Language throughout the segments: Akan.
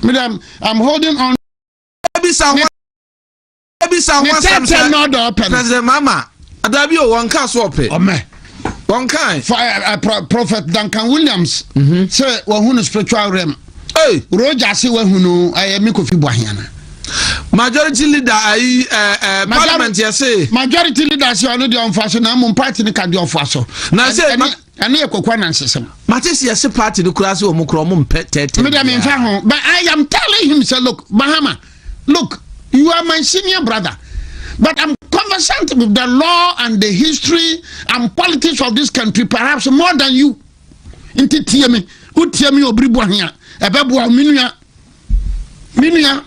Madam, I'm holding on. Ebisa ho ebisa ho asɛm sɛ President Mama adabi o wɔn ka so ɔpɛ. Ɔmɛ. Wɔn ka yi. Eh, eh, Prophet Duncan Williams. Mhm. Sɛ wɔn hu no spiritual realm. Ee. Roger se wɔn hu no ɛyɛ eh, mi kofi bu ahiana. Majority leader ayi ɛɛ ɛɛ parliament yɛ se. Majority leader se ɔno deɛ ɔnfa so na mmom party ni ka deɛ ɔfa so. Na se. Ɛno yɛ kɔkɔ anansesɛm. Mate sɛ yɛse party no koraa sɛ wɔn koraa wɔn mpɛ tɛɛtɛɛ. Me deɛ me nfa ho but I am telling him sɛ look Mahama look you are my senior brother but I'm conversant with the law and the history and politics of this country perhaps more than you. Nti tie me, wotie me obiri bɔ hea, ɛbɛboa wo menua. Menua,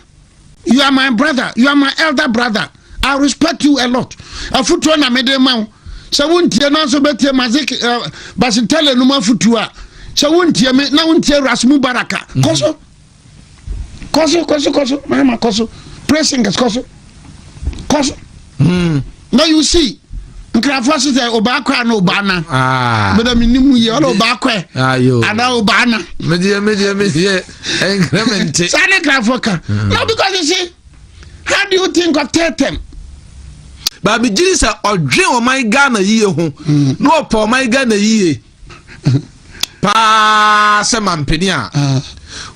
you are my brother, you are my elder brother. I respect you a lot. Afutuo na mede ma wo. Sɛ wontie na nso bɛtie Mazik uh, eh, Basitele no mu afutuo a, sɛ wontie me na wontie Ras Mubaraka. Mm-hmm. Kɔ so. Kɔ so, kɔ so, kɔ so. Mama, kɔ so. Praise singers, kɔ so. Kɔ so. Hmm. na you see nkurɔfoɔ hye sɛ ɔbaa kɔ ana ɔbaa na ah. meda menim yɛ ɔna ɔbaa kɔ ana ɔbaa na medeɛ medeɛ medeɛ ɛnkrɛ me nte saa ne nkurɔfoɔ ka hmm. no because you see how do you think of tetem baabi gyiri sɛ ɔdwe ɔman ghana yie ho hmm. na ɔpɛ ɔman ghana yie paa sɛ mampene a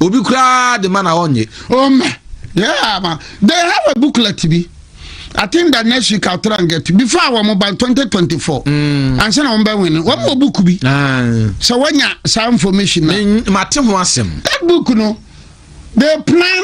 obi koraa de ma na ɔnye. ɔmɛ yeah ma they have a booklet bi i think that next week i'll try and get it before our mobile twenty twenty four mm. ansa na wɔn bɛ win wɔn wɔ book bi sɛ wɔnya saa information na. mate ho asɛm. that book no they plan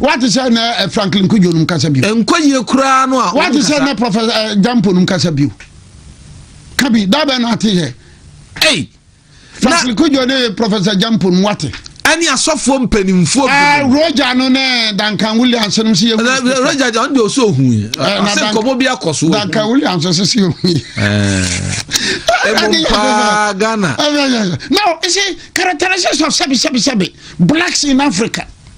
Wate sɛ na eh, Franklin Kudjo nom kasa bio. Ɛnkɔ yie koraa no a. Wate sɛ na Professor eh, Jampo nom kasa bio. Ka bi, da bɛn na ate yɛ. Ei. Franklin Kudjo ne Professor Jampo nom wate. ɛne asɔfoɔ mpanimfoɔ eh, bi. Roger no ne Duncan Williams nom si yɛ. Roger John ɔno deɛ ɔsɛ ohu yi. Ɔsɛ nkɔmɔ bi akɔ so. Duncan Williams ɔsɛ si ohu yi. Ɛmu paa Ghana. Now, you see, characteristics of sɛbi sɛbi sɛbi blacks in Africa.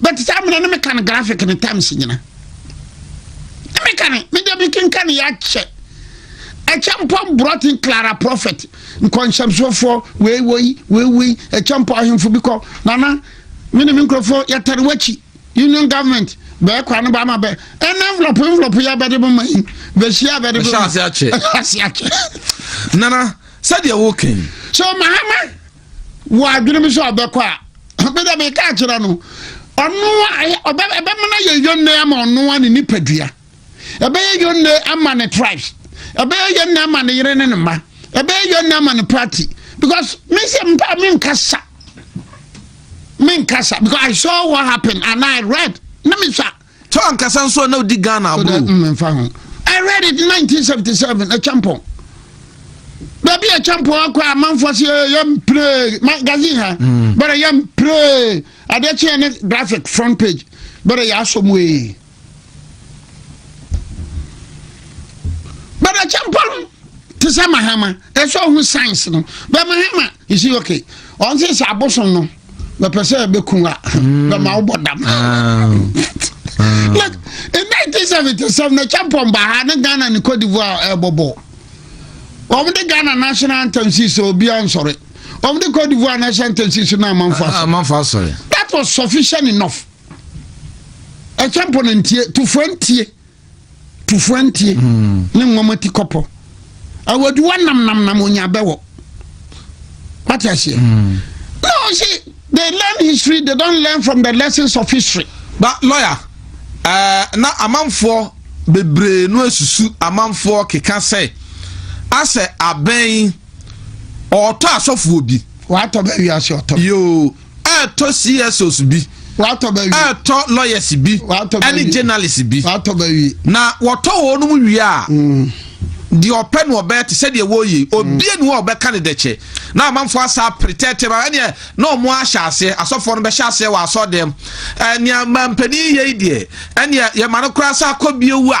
but saa mena ne meka no graphic ne times nyina ne meka ne mede mekenka ne yɛakyɛ ɛkyɛmpɔn brɔten clara prophet nkɔnhyɛmsofoɔ weiwei weiwei ɛkyɛmpɔn ahemfo bi kɔ nana me ne me nkurɔfoɔ yɛtare wakyi union government bɛɛ kwa no baama bɛ ɛna envelope envelope yɛ bɛde bɛma yi bɛhyia bɛde bɛma ase akyɛ nana sɛdeɛ woken so mahama wɔ adwenem sɛ ɔbɛkɔ a, me deɛ meka akyerɛ no, ɔno ɛbɛma no ayɛ yɔnnɛ ama ɔno a ne nipadua, ɛbɛyɛ yɔnnɛ ama ne tribes, ɛbɛyɛ yɔnnɛ ama ne yere ne ne mma, ɛbɛyɛ yɔnnɛ ama ne party because me sɛ mpa me nkasa me nkasa because I saw what happened and I read na me sa Tɔ ankasa nso a na odi Ghana aburo. So that mm nfa ho. I read it 1977 Achampon. Baabi Achampon akɔ a manfoɔ se yɛm pray magazine ha. Mm. Bɛrɛ yɛm pray adeɛ kyeɛ ne graphic front page. Bɛrɛ yɛ asɔ mu ee. Bɛrɛ Achampon te sɛ mahama ɛsɛ ɔho science no bɛ mahama you see okay ɔnse sɛ abosom no mɛpɛ sɛ ɛbɛku a hmm. bɛma wobɔ dam ah. Hmm. like in 1977 na champon baha ne ghana ne cote divoire ɛbɔbɔ wɔn de ghana national anthem si so obiara nsɔre wɔn de cote divoire national anthem si so na amanfo asɔre ah, amanfo asɔre that was sufficient enough ɛchampon ntie tufoɔ ntie Tufoɔ ntie ne nwoma ti kɔpɔ. Awaduwa nam nam nam onya bɛwɔ. What you say? Mm. No, see, they learn history, they don't learn from the lessons of history. But lawyer, uh, na amanfoɔ bebree no asusu amanfoɔ keka sɛ asɛ abɛn ɔtɔ asɔfoɔ bi. Watɔ bɛ wiase ɔtɔ. Yoo. Ɛɛtɔ CSOs bi. Watɔ bɛ wie. Ɛɛtɔ lawyers bi. Watɔ bɛ wie. Ɛne journalists bi. Watɔ bɛ wie. Na wɔtɔ wɔn mu wie a. Mm. deɛ ɔpɛ no ɔbɛyɛ te sɛdeɛ wɔyɛ mm. obie ne hɔ a ɔbɛka ne dɛkyɛ na amanfoɔ asa pretɛtɛ ba ɛneɛ na ɔmo ahyɛ aseɛ asɔfoɔ no bɛhyɛ aseɛ wɔ asɔdɛm ɛnea mampanin yɛ yi deɛ ɛneɛ yɛma no koraa sɛ akɔ bie wu a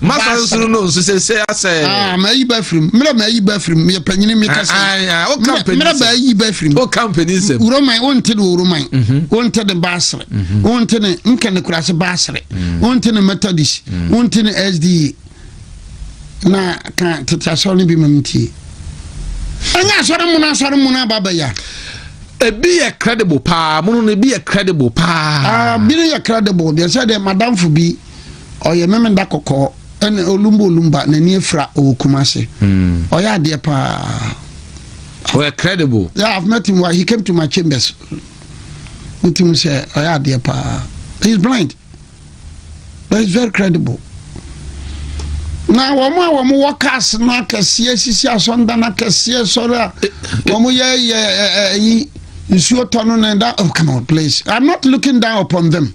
Masa nsuru no nsu sese asɛ. Ah, mayi ba firim. Mmerɛ mayi ba firim. Meyɛ panyini mi kasa. Mmerɛ baayi ba firim. O ka mpanyin sɛm. Wuroman o nte de wuroman. O nte de baasere. O nte ne nkɛne kurase baasere. O nte ne methodist. O nte ne SDA. Na ka tete asɔre no bi ma mi tie. Ɛnyɛ asɔre mu na asɔre mu na aba bɛ ya. Ebi yɛ credible paa. Mo no ebi yɛ credible paa. Ah, bi no yɛ credible. Deɛ sɛ deɛ madamfo bi. ɔyɛ memeda kɔkɔɔ ɛna olumba olumba n'ani afira ɔwɔ kumase hmm. ɔyɛ adeɛ paa ɔyɛ credible yeah i've met him he came to my chambers nti mu sɛ ɔyɛ adeɛ paa he is blind but he is very credible na wɔn a wɔn wɔ cars no akɛseɛ sisi asɔndan akɛseɛ sɔrɔ a wɔn yɛ yɛ ɛyi nsuo tɔ no na ɛda oh come on please i'm not looking down upon them.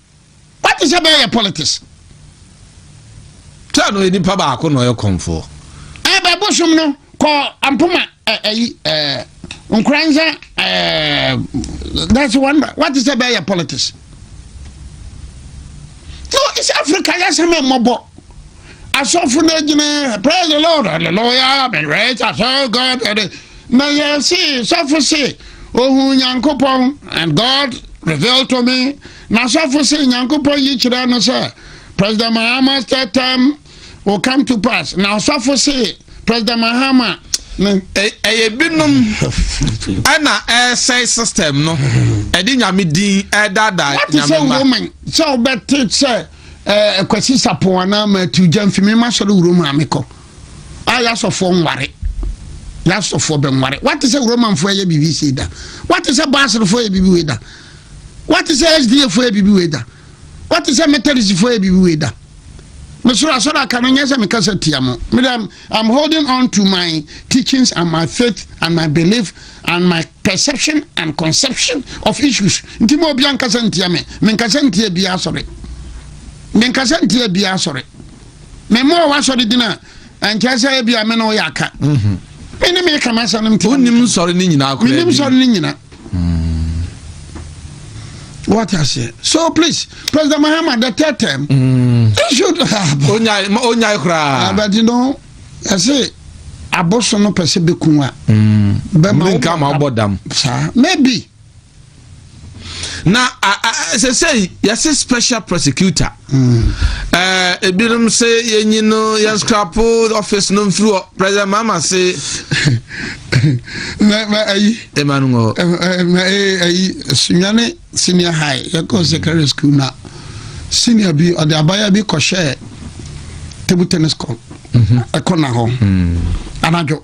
Wagye sɛ bɛyɛ yɛ politics. Sɛ no nipa baako na ɔyɛ kɔnfoɔ. Ɛbɛ bosom no kɔ ampoma ɛyi ɛɛ nkoransa ɛɛ that's one wagye sɛ bɛyɛ yɛ politics. No, it's Africa yasɛm ɛmmɔbɔ. Asɔfo no gyina praise the Lord hallelujah been raised as God. Na yɛse sɔfo se ohuu Nyankopɔn, and God revealed to me, na sɔfo se Nyankopɔn yi kyerɛ no sɛ President Mahama's third term will come to pass, na ɔsɔfo se President Mahama ɛyɛ binom ɛna ɛsɛe system no ɛde nyame din ɛdaadaa nyame ma. woman sɛ wobɛte sɛ kwasi sapon anaa matu gya mfimi ma sɔre wuro maame kɔ. a y'asɔfoɔ nware, y'asɔfoɔ bɛnware. W'ate sɛ Romanfoɔ ɛyɛ biribi sei da? W'ate sɛ Basrfoɔ ɛyɛ biribi wei da? W'ate sɛ SDAfoɔ ɛyɛ biribi wei da? W'ate sɛ Methodistfoɔ ɛyɛ biribi wei da? Mesoro asɔre aka no nyɛ sɛ mekasa tia mo. Me dɛ I'm holding on to my teachings and my faith and my belief and my perception and conception of issues. Nti mo obi ankasa ntia me. Menkasa ntia biara asɔre. Menkasa ntia biara asɔre. mema ɔwɔ asɔre din a ɛnkyerɛ sɛ ebia me ne woyɛ aka mhm. me ne meka m'asɛm no mte wonim nsɔre no nyinaa koraa menim nsɔre no nyina mm. What aseɛ so please president mahama the third term mm. issued onyae koraa ah, but you know ɛse aboso no pɛ sɛ bɛku a mm. bɛma wobɔ dam saa maybe na ɛsɛ sɛ yɛse special prosecutor mm. eh, ebinom se yɛnyi no yɛnskrapo office no mfiri hɔ president mama se ayi ɛma no ngɔ ayi sunwane senior high yɛkɔ mm. secondary school na senior bi ɔde abaya bi kɔhyɛɛ table tennis court mhm. ɛkɔ na hɔ mm. anadwo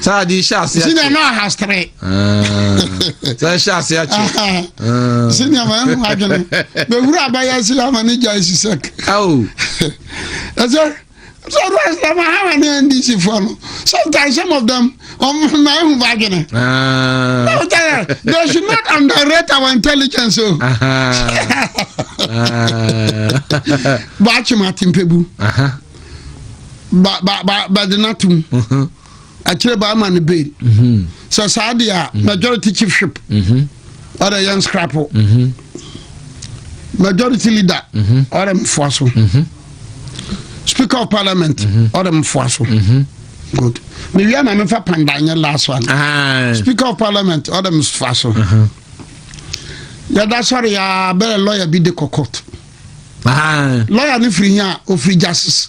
sɛ ade hyɛ ase akyi sɛdeɛ na ahastere ah. sɛ hyɛ ase akyi ah. sɛdeɛ ma ɛho adwene bɛhuru abɛyɛ se ama ne gya asi sɛk ɛsɛ sɛ ɔdo asɛm ahawa ne ndc foɔ no sometimes some of them ɔma ɛhu ba adwene they should not underrate our intelligence o baakyema tempɛbu bade no atom akyire baa ma no bail mhm. sɛ saa deɛ a mhm. majority chiefship mhm. ɔdɛ yɛn scrapo majority leader ɔdɛ mfoa so speaker of parliament ɔdɛ mfoa so good mewia na mefa pandanyɛ last one ah. speaker of parliament ɔdɛ mfoa so yɛda sɔre yɛ abɛrɛ lɔya bi de kɔ court ah. lɔya no firi hia ofiri justice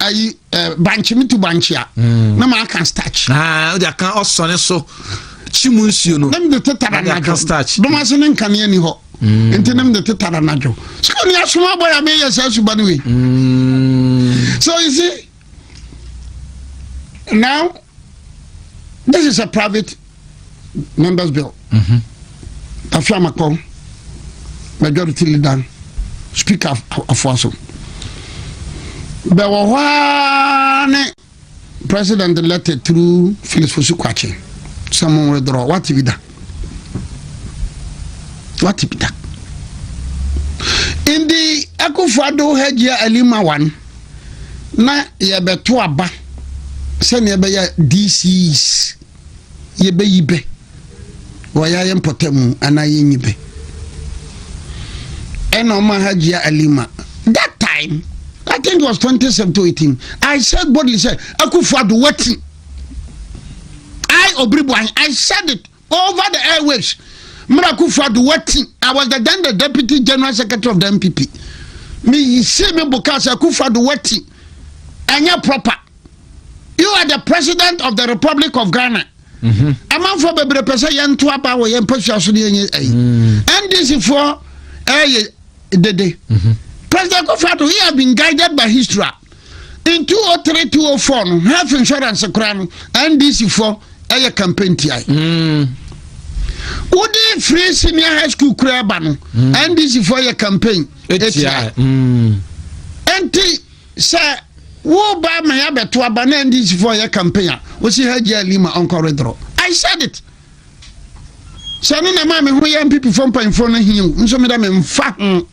ayi eh, bankye metu bankye a hmm. na maaka starch ah, wode aka ɔsɔne so kyi mu nsuo no na mede tetara nadwo bɛma so ne nkanea ni hɔ hmm. nti na mede tetara nadwo sɛ ne asom abɔ yɛ meyɛ saa suba no wei hmm. so you see now this is a private members bill mhm. tafi amakpɔ majority leader speaker afoa so bɛwɔ hɔ ara ne president letter through phyllis fosu kwakye sɛ mo withdraw wate bi da wate bi da ndi akufo ado ha gyia alima wan na yɛbɛto aba sɛnea ɛbɛyɛ dcs yɛbɛyi bɛ wɔ yɛayɛ mpɔtamu anaa yɛnyi bɛ. Ɛna ɔma Hajia Alima that time I think it was 2017 I said boldly sɛ Akufo Addo wati I Obiribuahin I said it over the airwaves mmerɛ akufo ado wati i was the then the deputy general secretary of the npp meyisii me bo kaa sɛ akufo ado wati ɛnyɛ proper you are the president of the republic of ghana amanfoɔ mhm. bebree pɛ sɛ yɛnto aba wɔ yɛn mpasua so ne yɛnyɛ ayi mm. ndc foɔ ɛyɛ dede mhm. president kofi ado he have been guided by history in 203 204 no health insurance koraa no ndc foɔ ɛyɛ campaign tiae mm. wode firi senior high school koraa ba no mm. ndc foɔ yɛ campaign ɛtiae ɛnti Sɛ woreba ama yɛabɛto aba na NDC fo yɛ campaign a, wosi Hajji Ali ma ɔnkɔ redrɔ. I said it. Sɛ no na ɛma me ho yɛ NPP fo mpanyinfoɔ no hiu nso me dɛ me mfa ho.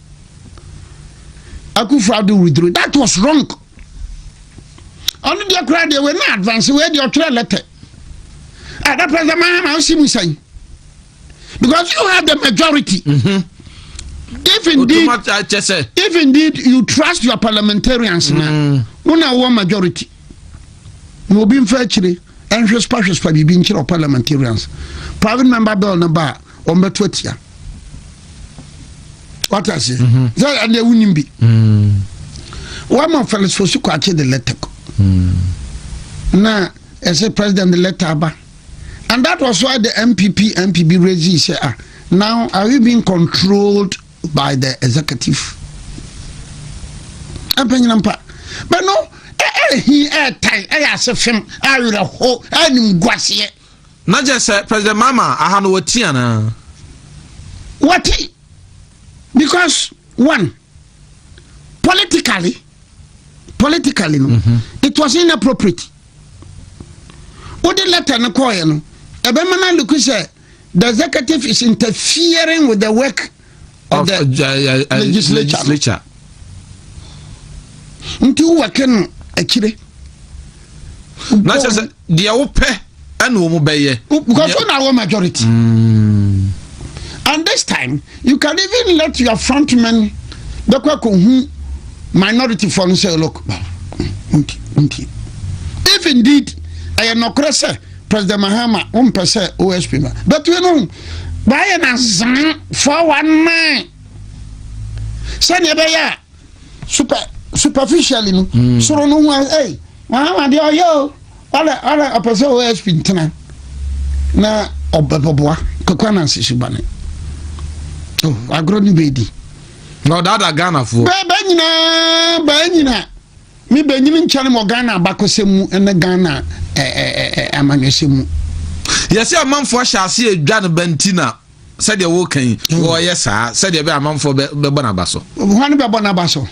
Akufo Addo withdrew. That was wrong. Ɔno deɛ koraa deɛ wei na advance wei deɛ ɔtwerɛ lɛtɛ. Ada President Mahama ɔsi mu sɛn? because you have the majority. Mm-hmm. if indeed if indeed you trust your parliamentarians na mm. wọn na wọ majority na obi nfa akyire ɛnhwespa hwespa biribi nkyerɛ wɔ parliamentarians private member bill no ba a wɔn bɛto atia wate ase mhm. sɛ ɛnna ewu nim bi mm. wɔama felix fosu kwakye de lɛtɛ kɔ mm. na ɛsɛ president de lɛtɛ aba And that was why the MPP MPB regime said, ah, now are we being controlled by the executive? Mpenyinampa. But no, ɛhi eh, eh, ɛtan eh, ɛyɛ ase fam awerɛho anim guaseɛ. na kyerɛ sɛ president mama aha no wɔti anaa. wɔti because one politically. politically no mhm. it was inappropriate wode letter no kɔɔeɛ no ɛbɛma no aloku sɛ the executive is interfering with the work of, of the uh, uh, uh, legislature nti wowɔke no akyire na kyerɛ sɛ deɛ wopɛ ɛna wɔn bɛyɛ. because wọn na wọ majority. Mm. and this time you can even let your front men bɛkɔ akɔhu minority fɔ no sɛ look nti nti if indeed ɛyɛ nɔkorɛ sɛ president mahama wọn pɛ sɛ osp ma but you know báyɛ na zan four one nine sɛdeɛ ɛbɛyɛ a. Super superficially no mm. soro no ho ɛy mama deɛ ɔyɛ o ɔlɛ ɔlɛ ɔpɛ sɛ osp ntena na ɔbɛbɔboa kakwa na nsisi bane oh, agorɔ ne bɛdi na ɔdaada ghanafoɔ bɛɛ nyinaa bɛɛ nyinaa me bɛnyini nkyɛne mɔ ghana abakɔsɛm mu ne ghana amanyɔsɛm mu yɛsɛ amanfoɔ ahyɛ ase adwa no bɛnti na Sɛdeɛ woreka yi, hmm. wɔyɛ saa sɛdeɛ ɛbɛyɛ amanfoɔ bɛbɔ n'aba so. Hwan bɛbɔ n'aba so?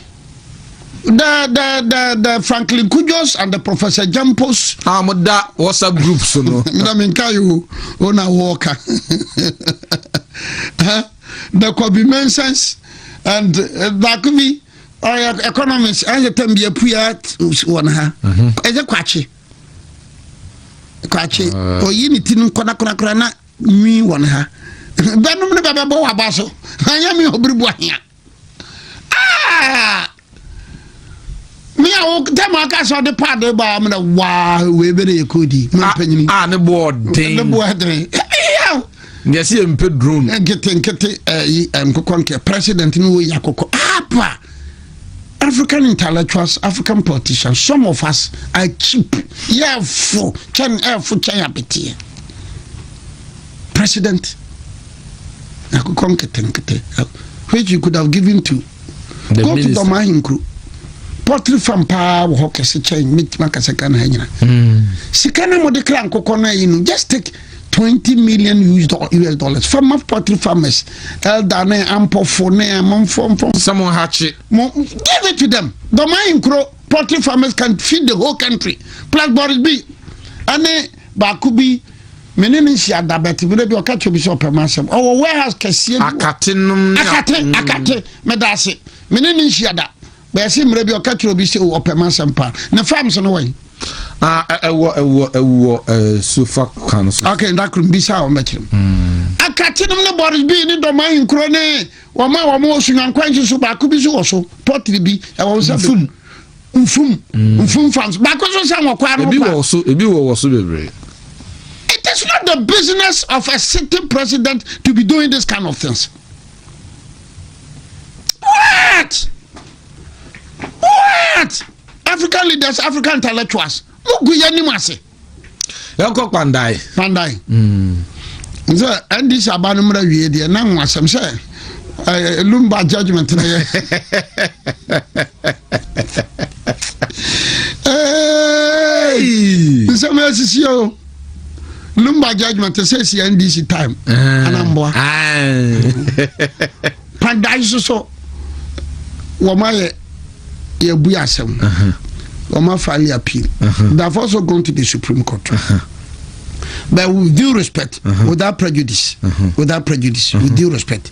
the the the the Franklin Kujos and the Professor Jampos. Ah, mo da WhatsApp group so no. Mina mi nka yi o, o na wɔɔka. The Kobe Mensens and uh, baako bi ɔyɛ economist ɛyɛ tɛm bi apua wɔn ha. Ɛyɛ kwakye. Kwakye, oyi ne ti no nkɔdakorakora na. Nwi wɔ ne ha. Bɛnom ne bɛbɛbɔ w'aba so. Anyɛ me ɔbiribu ahea. Ah! me a wo dɛm aka sɛ ɔde paade baa mu na waa wei bɛ na yɛ koodi ma ah, mpanyini a ah, ne boɔ ɔden ne boɔ ɛdene yaw deɛ sɛ yɛmpɛ drone nkete nkete ɛyi nkokɔ nkɛ president no wɔ yi akokɔ apa African intellectuals, African politicians, some of us are cheap. Yɛfo kyɛn ɛfo kyɛn abeteɛ. President akokɔ nketenkete which you could have given to the go minister. to Dɔm Ahenkuro pottery farm paa wɔ hɔ kɛse kyɛn mɛtumi akasa Ghana ha nyina hmm. sika no mode kra nkokɔ no ayi no just take twenty million us dollars fama poultry farmers elder ne ampɔfo ne amanfo mpɔ. sɛ mo nhakye. mo give it to them dɔmai nkuro poultry farmers can feed the whole country plus boris bi ɛne baako bi mene ne nsi adabɛte mene bi ɔka kyerɛ bi sɛ ɔpɛ ma asɛm ɔwɔ warehouse kɛseɛ bi akate nom ne akate akate meda ase mene ne nsi ada Bɛsi mmerɛ bi ɔka kyerɛ obi sɛ o ɔpɛ m'asɛm paa. Ne farms no wɔ yi? Ah, ɛwɔ ɛwɔ ɛwɔ sofa kwan so. Okay, nda koro mbisa a ɔmbɛkyerɛ mu. Hmm. Akate nom ne Boris bi ne dɔm ayi nkoro ne wɔn a wɔn wɔ sunwankwan nso so baako bi so wɔ so pɔtiri bi ɛwɔ nsa bi. Nfum. Nfum. Hmm. Nfum farms baako so san wɔ kwan no pa. Ebi wɔ so ebi wɔ wɔ so bebree. It is not the business of a sitting president to be doing this kind of things. what what african leaders african intellectuals mo gu yɛ anim ase. yɛnkɔ kpandae. kpandae. Mm. sɛ ndc aba no mmerɛ wie deɛ na ho asɛm sɛ eh, lumba judgment no yɛ nsɛm asisi o lumba judgment te sɛ si ndc time eh. anamboa padan so so wɔn ayɛ yɛbu asɛm wɔn afile appeal they have also gone to the supreme court but with due respect without prejudice without prejudice with due respect.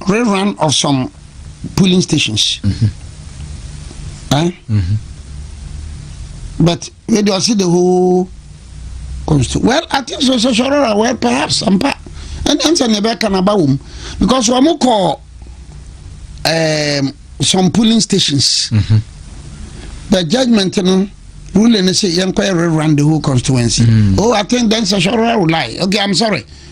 Rerun of some polling stations but wei deɛ ɔse the whole constitution well i think so sɛ sɔrɔra well perhaps ampa ɛne ɛnsɛ ne ɛbɛka no aba wɔ mu because wɔn kɔ um, some polling stations mm -hmm. the judgment no ruling no sɛ yɛnkɔyɛ rerun the whole constituency mm. oh i think then sɛ sɔrɔra will lie okay i'm sorry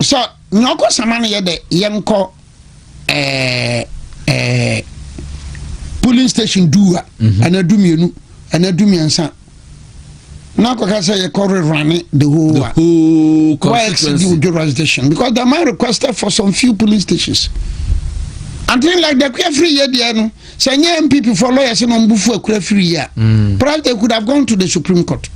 Sɛ nea ɔkɔ sama no yɛ dɛ yɛnkɔ ɛɛ ɛɛ polling station du a mhm. anaa du mmienu anaa du mmiɛnsa na akɔka sɛ yɛkɔ rerane the whole the whole constituency wɔ jurisdiction because the man requested for some few polling stations and things like the kuyafiri yɛ deɛ no. sɛ ɛnyɛ npp foɔ lɔya sɛ na ɔmo bufu akura firi yɛ a mm. perhaps they could have gone to the supreme court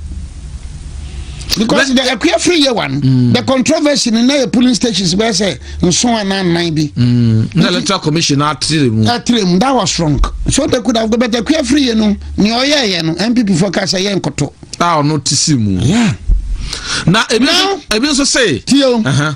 because the akura firi yɛ wa no mm. the controversy no na yɛ polling stations bɛyɛ sɛ nson anaa nnan bi mm. na electoral commission atire mu atire mu that was wrong so they could have but akura firi yɛ no nea ɔyɛ yɛ no npp foɔ ka sɛ yɛ nkoto a ɔno ti si mu na ebi nso sɛ tiyo uh-huh.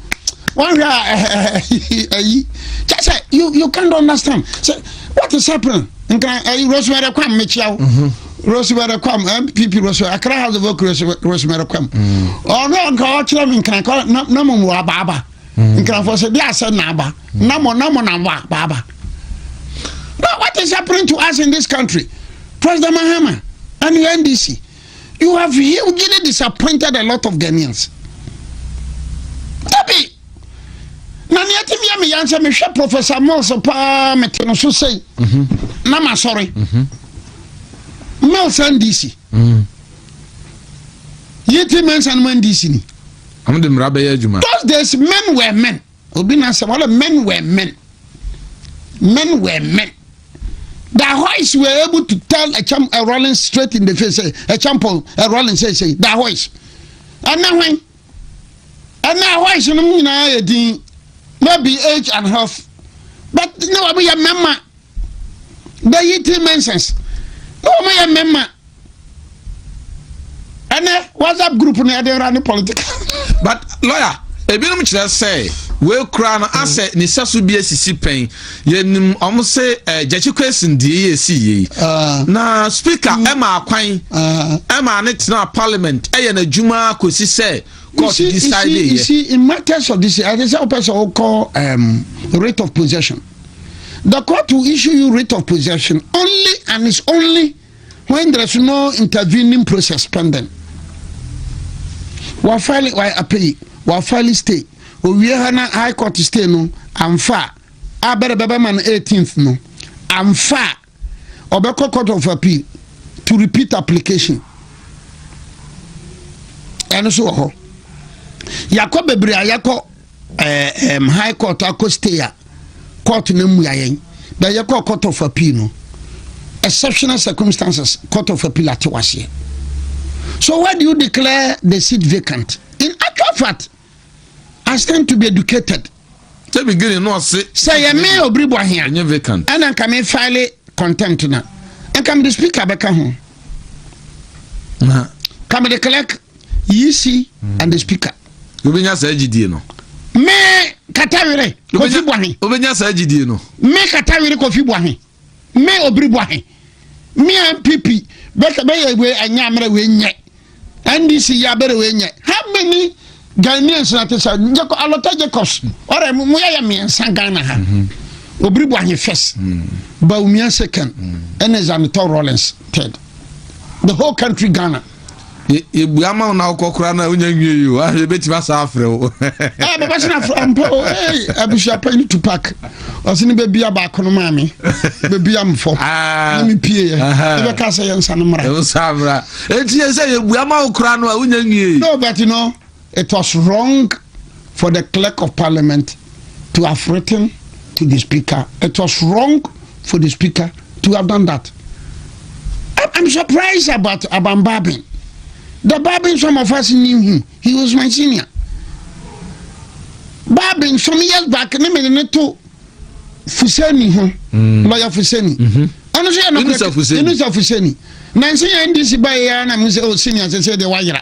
One way, ayi, just say you you can't understand. Say what is happening? Nka ayi Rosemary Kwam mekyia wo. Rosemary Kwam MPP Rosemary Accra House of Oak Rosemary Kwam. Ɔno nka ɔkyerɛ me nka kɔ na na mo wɔ abaaba. Nka fɔ sɛ de asɛ na aba. Na mo na mo na mo abaaba. Now what is happening to us in this country? President Mahama and the NDC. you have hugely disappointed a lot of Ghanaians. Dabi, na nea ti mi mi yansa mi hwɛ Professor Mills paa mi ti no so sɛyi, mhm. na ma sɔre, mhm. Mills NDC, mhm. yi ti Mensah no NDC ni. Those days men were men. Obi na sɛ wɔlɛ men were men men were men da hois were able to tell a champ a rolling straight in the face say a champ a rolling say say da hois ɛnɛ hwan ɛnɛ hois no nyinaa yɛ din maybe age and health but ne wɔn yɛ mɛma. the Yiti Mensas na wɔn yɛ mmarima ɛnɛ WhatsApp group no yɛde ra ne political. but lawyer ebinom kyerɛ sɛ wekura no asɛ ne sɛso bi esisi pɛn yɛnim wɔn se ɛɛ gyakye kwesin die yɛ esi yie ah. na speaker mm. ɛma akwan ah. ɛma ne tena parliament ɛyɛ n'adwuma akosi sɛ court decide yɛ. you see in matters of this i dey say o pɛ sɛ o kɔ writ of possession. The court will issue you writ of possession only and it's only when there is no intervening process pending. Wa file wa appeal wa file stay owie ha na high court stay no amfa a bɛrɛ bɛbɛ ma no 18th no amfa a ɔbɛkɔ court of appeal to repeat application ɛno so wɔ hɔ yɛakɔ bebree a yɛakɔ eh, um, high court akɔ stay a court no mmua yɛn bɛ yɛkɔ court of appeal no exceptional circumstances court of appeal atew aseɛ so why do you declare the seat vacant in actual fact I stand to be educated. Sɛ beginning no ɔse. Sɛ yɛ me obiri bɔ ahia. Ɛnyɛ vacant. Ɛna nka me file contempt na. Nka me de speaker bɛka ho. Na. Ka me de clerk, yisi mm. and the speaker. Wobɛnya saa gyidie no. Me katawere kofi bɔ ahe. Wobɛnya saa gyidie no. Me katawere kofi bɔ ahe. Me obiri bɔ he me a npp bɛsɛ bɛyɛ wei ɛnyɛ amena wei nyɛ ndc yɛ abɛrɛ wei nyɛ how many Ghanaians na te sɛ Jacob Alota Jacobs ɔrɛ mo yɛ yɛ mmiɛnsa Ghana ha mm-hmm. obiri bɔ he first mm-hmm. Bawumia second ɛna mm-hmm. Zanitɔ Rawlings third the whole country Ghana. yɛbua ma wo na wokɔkora no a wonya nwie o ah, yɛbɛtumi asa afrɛ wo ah, bɛbɛse no afrɛ mpa o abusua pa ne tupak ɔse ne bɛbia baako no maa me bɛbia mfɔ ah. ne mepieɛ yɛbɛka sɛ yɛnsa no mmra ɛnti yɛ sɛ yɛbua ma wo kora no a wonya nwie no but no It was wrong for the clerk of parliament to have written to the speaker. It was wrong for the speaker to have done that. I'm, I'm surprised about Aban Babin. The Babin, some of us knew him. He was my senior. Babin, some years back, Nemeneto Fuseni, hmm. lawyer Fuseni. Mm-hmm. ɛno nso yɛ nɔkorɛ ɛno sɛ fuseni nansi yɛ ndc ba yɛ yɛ na mo sɛ o senior sɛ sɛ deɛ wayera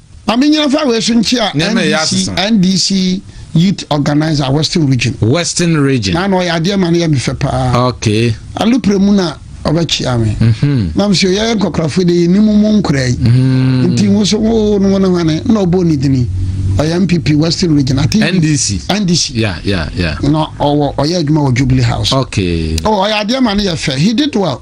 Ma me nyina fa wei so nkyea NDC, NDC youth organizer western region. Western region. Na na ɔyɛ adeɛ ma no yɛ me fɛ paa. Okay. Alupre mu na ɔbɛkyea me. Mhm. Na me sɛ yɛyɛ nkɔkorafo de yɛ nim mu nkora yi. Mhm. Nti wo so wo no wo ne hwane na ɔbɔ ne dini. Ɔyɛ MPP western region. I think NDC. NDC. Yeah, yeah, yeah. Na ɔwɔ ɔyɛ adwuma wɔ Jubilee House. Okay. Oh, ɔyɛ adeɛ ma no yɛ fɛ. He did well.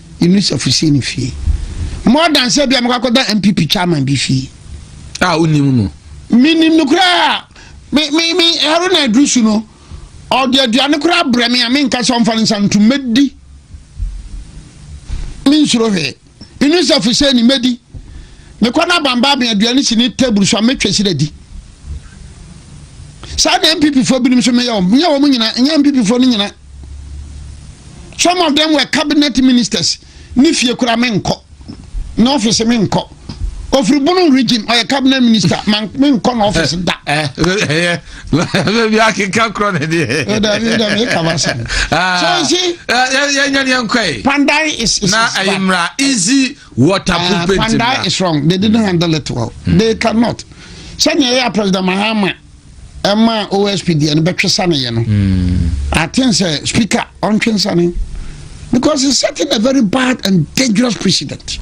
Yɛnuru safosie no fie. Mmɔ adanseɛ bi a mɛkɔ akɔda NPP chairman bi fie. A wonim no. Menim no koraa me me me ɛro na aduru su no ɔde aduane koraa brɛ me a menka sɛ ɔmfa no nsa no ntom mɛdi mensuro hwee menu safosie ni mɛdi mekɔ no abamba me aduane si ne table so a mɛtwa si dadi saa na mpp foɔ binom so meyɛ wɔm nyɛ wɔm nyina nyɛ mpp foɔ no nyina Some of them were cabinet ministers. Ne fie kura me nkɔ. Ne office me nkɔ. Ofiri Bono region ɔyɛ cabinet minister man me nkɔ na office da. Baabi akeka korɔ ne deɛ. Ɛda mi da mi kaba sɛm. So you see. Yɛ nyɛ ni nkɔ yi. Pandai is is. Na ayi mura easy water ah, pumping. Pandai is wrong. They didn't handle it well. Hmm. They cannot. Sani ɛyɛ president Mahama. ɛma osp deɛ no bɛtwe saneɛ no hmm. i think sɛ speaker ɔntwe nsane because he's setting a very bad and dangerous precedent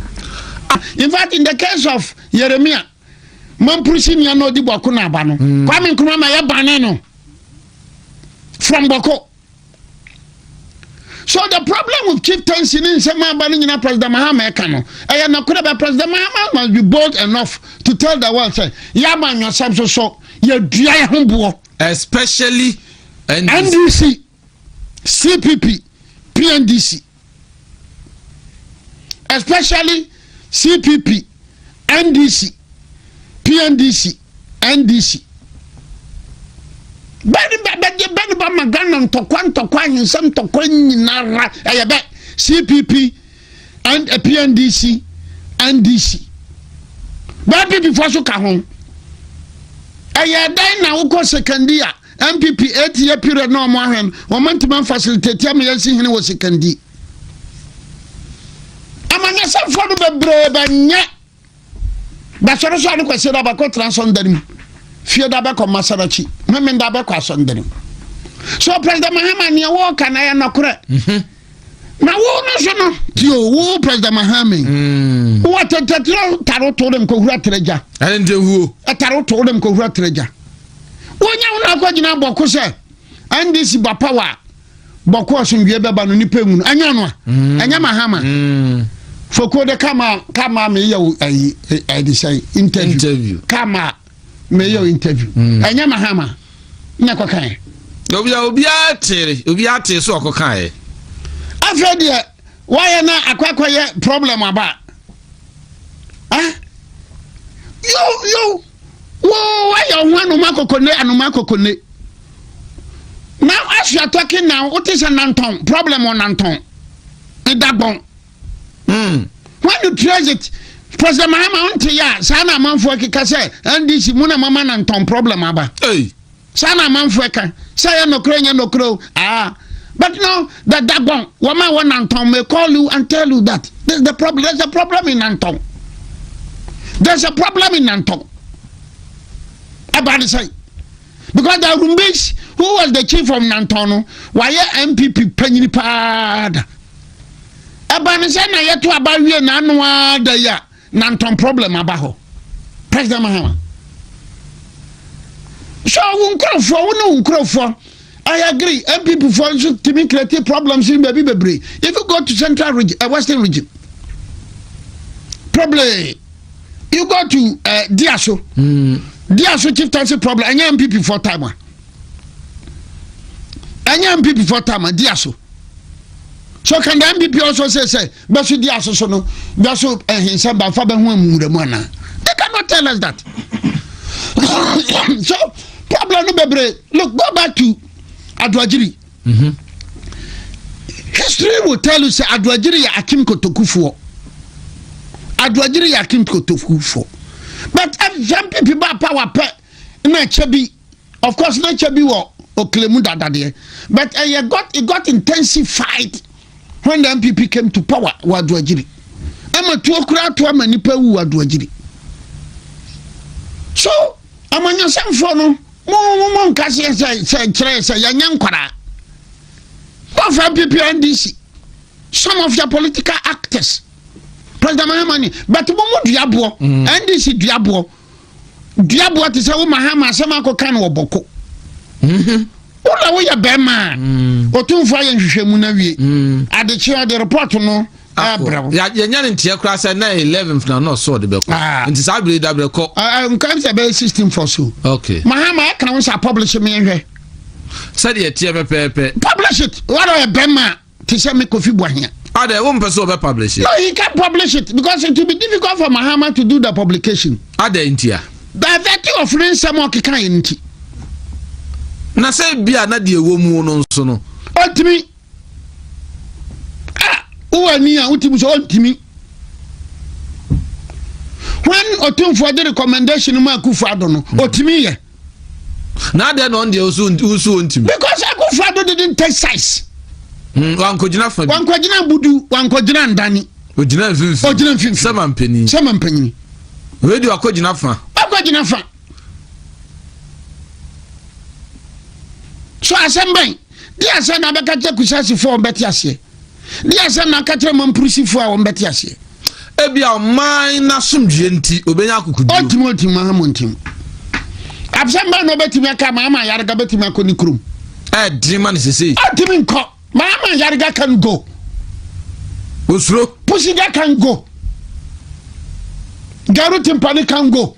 ah, in fact in the case of yeremia mampurisi nua na ɔdi bɔko na aba no hmm. kwame nkrumah ma yɛ bane no from bɔko so the problem with chieftaincy ne nsɛm aba no nyina president mahama ɛka no ɛyɛ nokorɛ bɛ president mahama must be bold enough to tell the world sɛ yɛaba nwɔsɛm so so yɛdua yɛ ho boɔ especially ndc cpp pndc especially cpp ndc pndc ndc bɛne bɛbɛdeɛ bɛne ba ma ghana ntɔkwa ntɔkwa ahensɛm ntɔkwa nyinara ɛyɛ bɛ cpp and eh, pndc ndc bɛɛ pp foɔ so ka ho ɛyɛ dɛn na wokɔ sekandia NPP eight year period na wɔn ahwɛ no wɔn ntoma facilitate ama yɛn si hene wɔ sikandi amanyɛsɛfoɔ no bebree bɛnyɛ basɔre so a ne kwasi da bɛkɔ tena asɔndane mu fie da bɛkɔ masaraki meme da bɛkɔ asɔndane mu so president mahama neɛ wɔɔka na yɛ nɔkorɛ mhm. na wo no so no tio wo president mahame mm. wo atɛtɛtɛrɛ taro to dem kɔhura terɛgya ɛne nti huo ɛtaro to dem kɔhura terɛgya wonya wo no akɔgyina bɔko sɛ ndc ba power a bɔko asomdwie bɛba no nipa mu no ɛnyɛ no a mm. ɛnyɛ mahama mm. foko de kama kama meyɛ wo ayi ɛde sɛ interview kama meyɛ interview mm. ɛnyɛ mahama na ɛkɔkaɛ obia obiara tere obiara tere so ɔkɔkaɛ afei deɛ wayɛ na akɔakɔyɛ problem aba ah? yo yo wo wayɛ ɔho anoma kokone anoma kokone now as you are talking now wote sɛ nantɔn problem ɔnantɔn ɛdagbɔn Mm. When you trace it, President Mahama nte ya saa na amanfo akeka sɛ NDC mu na mama na ntɔn problem aba. Hey. Saa na amanfo ɛka sɛ yɛ nokore nyɛ nokore o. Ah. But now the dagon wama wɔ nantɔn may call you and tell you that this the problem there's a problem in nantɔn. There's a problem in nantɔn. About the same. Because the Rumbis who was the chief of Nantono, why MPP Penny Pada? Ɛba ne sɛ na yɛto aba wie na ano ara da yi a na ntɔn problem aba hɔ. President Mahama. So wo nkurɔfoɔ wo ne wo nkurɔfoɔ I agree MPP foɔ nso tumi create problems in baabi bebree if you go to central region uh, western region probably you go to uh, Diaso mm. Diaso chieftaincy problem ɛnyɛ MPP foɔ time a ɛnyɛ MPP foɔ time a Diaso. so ka nda mpp ɔsɔ sɛ sɛ bɛso di aso so no bɛso ɛhensɛ bafa bɛho amumura mu anaa they cannot tell us that so problem no bebree look go back to adoagyiri mm -hmm. history will tell you sɛ adoagyiri yɛ akim kotokufoɔ adoagyiri yɛ akim kotokufoɔ but ɛfɛ mpp ba power pɛ na ɛkyɛ bi Of course na kyɛ bi wɔ Okle mu dada deɛ but ɛyɛ got it got intensified when the NPP came to power wɔ Aduagyiri. Ɛma tuo koraa to ama nipa wu wɔ Aduagyiri. So amanyɔsɛmfoɔ no mo mo mo nka seɛ sɛ sɛ kyerɛ sɛ yɛnyɛ nkwaraa. Wɔfa NPP NDC some of your political actors. President Mahama ni but mo mo duaboɔ NDC duaboɔ duaboa te sɛ wo ma ha ma asɛm akɔka no wɔ bɔko mhm. wo na woyɛ bɛrima a mm. ɔtumfoɔ ayɛ nhwehwɛmu no awie mm. adekyeɛ ɔde report no yɛnya ne nteɛ koraa sɛ na 11 na na ɔsɛ ɔde bɛkɔ ah. nti saa bere da berɛkɔ ah, ah, nka sɛ bɛyɛ 16 fɔ so okay mahama ɛka wo sɛ publish me nhwɛ sɛdeɛ ɛteɛ pɛpɛɛpɛ publish it wada ɔyɛ bɛrima a te sɛ me kofi buahia. adɛ ah, wo mpɛ sɛ ɔbɛ publish it. no he can publish it because it will be difficult for mahama to do the publication. adɛ ah, ntia. bɛvɛti of ne nsɛm a ɔkeka yɛ nti. na sɛ bi a na deɛ ɛwɔ mu no nso no. ɔntumi a ah, wowɔ ani a wotumi sɛ ɔntumi when ɔtumfoɔ de recommendation mu akufo ado no ɔtumi yɛ. na adɛn na ɔno deɛ wosu wosu ontimi. because akufo ado didn't take size. Mm, wankɔgyina fa bi wankɔgyina abudu wankɔgyina ndani. ogyina mfimfini ogyina mfimfini sɛma mpanyin sɛma mpanyin. radio akɔgyina fa. akɔgyina fa so asɛm bɛn. Deɛ asɛm na bɛka kyerɛ Kusasifoɔ a wɔbɛte aseɛ? Deɛ asɛm na aka kyerɛ Mampurusifoɔ a wɔbɛte aseɛ? Ebia ɔman no asomdwoeɛ nti, ɔbɛnya akokoduo. Ɔntumi ɔntumi maha mo ntem. Absɛm bɛn na ɔbɛtumi aka ma ama yarega bɛtumi akɔ ne kurom? Ɛdene ma no sesei. Ɔntumi nkɔ. Ma ama yarega can go. Osuro. Pusiga can go. Garu timpani can go.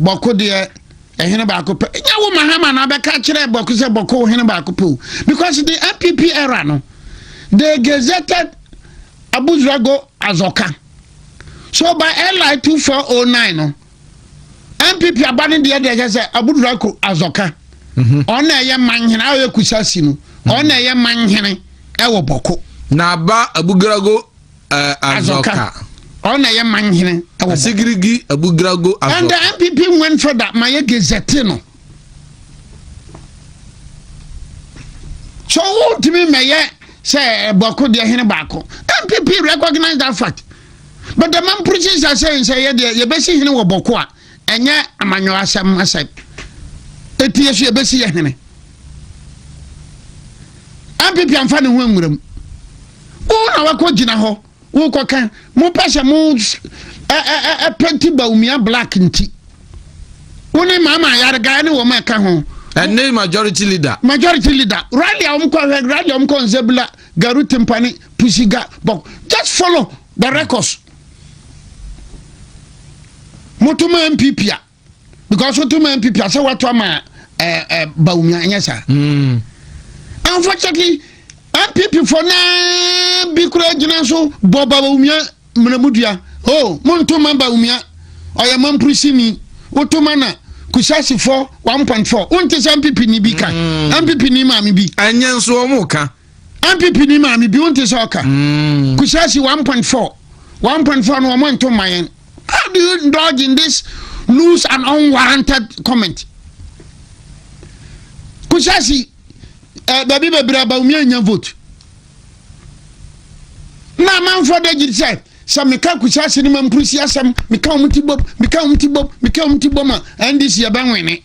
Bɔko deɛ ɛhene baako pɛ nyɛ wo mahama na abɛka kyerɛ bɔko sɛ bɔko wo hene baako pɛ o because the npp era no they gazetted abuzrago azɔka so by li 2409 no npp aba no deɛ deɛ kyɛ sɛ abuzrago azɔka mhm. ɔna ɛyɛ manhene a ɔyɛ kusa si no mhm. ɔna ɛyɛ manhene ɛwɔ bɔko na aba abuzrago Azɔka. Ɔno na ɛyɛ man hene wɔ Bɔkɔ. Asigirigi Abugrago Azɔka. And the NPP went for that ma yɛ gezɛte no. So wotumi mɛyɛ sɛ Bɔkɔ deɛ hene baako. NPP recognize that fact. But the man preaches sɛ sɛ yɛ deɛ yɛbɛsi hene wɔ Bɔkɔ a. ɛnyɛ amanyɔɔ asɛm asɛm eti yɛ so yɛ besi yɛ hene npp anfa ne ho nwura mu wɔn na wakɔ gyina hɔ wɔkɔ kan mo pɛ sɛ mo ɛ ɛ ɛ ɛ pɛnti bawumia black nti wɔn ne maama ayariga ne wɔn ɛka ho. ɛne majority leader. majority leader rally a wɔn kɔ rally a wɔn kɔ nzebula garu timpani pusiga bɔk just follow the records. moto ma npp a because woto ma npp a sɛ woato ama ɛɛ eh, ɛɛ eh, bawumia ɛnyɛ saa. Hmm. unfortunately npp fo naa bi kura gyina so bɔ bawumia mmanamudua o oh, monto ma bawumia ɔyɛ mampurisini woto ma na kusasifo one point four wonte sɛ npp ni bi ka npp hmm. ni maame bi. ɛnyɛ nso wɔn ka. NPP ni maame bi wonte sɛ ɔka mm. kusasi 1.4 1.4 no wɔn nto mma yɛn how do you indulge in this loose and unwarranted comment kusasi ɛɛ eh, baabi bebree abawumi anya vote na amanfoɔ de gyi sɛ sɛ meka kusasi ne ma mpurusi asɛm meka wɔn ti bom meka wɔn ti bom meka wɔn ti bom a ndc yɛ bɛ nwene.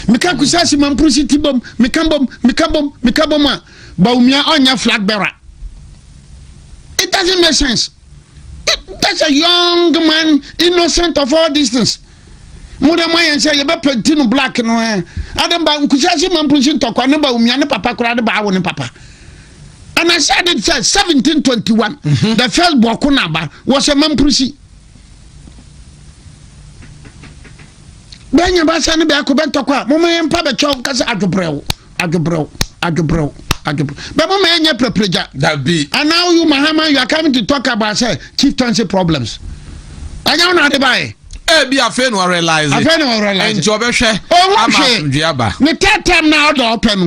meka kusase mampuru si ti bom meka bom meka bom meka bom a baumia ɔnyɛ flag bearer it doesn't make sense it, that's a young man innocent of all these things mo dɛ mo ayɛ nsɛ yɛbɛpɛnti no black no ɛ adɛn ba kusase mampuru si ntɔkwa ne baumia ne papa koraa de baawo ne papa and I said it said 1721 mm-hmm. the first Bokunaba was a Mamprisi. bɛnya basa ne bɛako bɛntɔkɔ a moma yɛ mpa bɛkyɛw nka sɛ adwobrɛw adwobrɛw adwobrɛw adwobrɛw bɛ moma yɛnyɛ prɛprɛgya dabi and now you mahama you are coming to talk about sɛ chieftaincy problems ɛnyɛ wo na ade baeɛ ebi eh, afei na ɔrealize afei na ɔrealize nti ɔbɛhwɛ ama asomdwe aba ne third time na ɔdɔ ɔpɛ no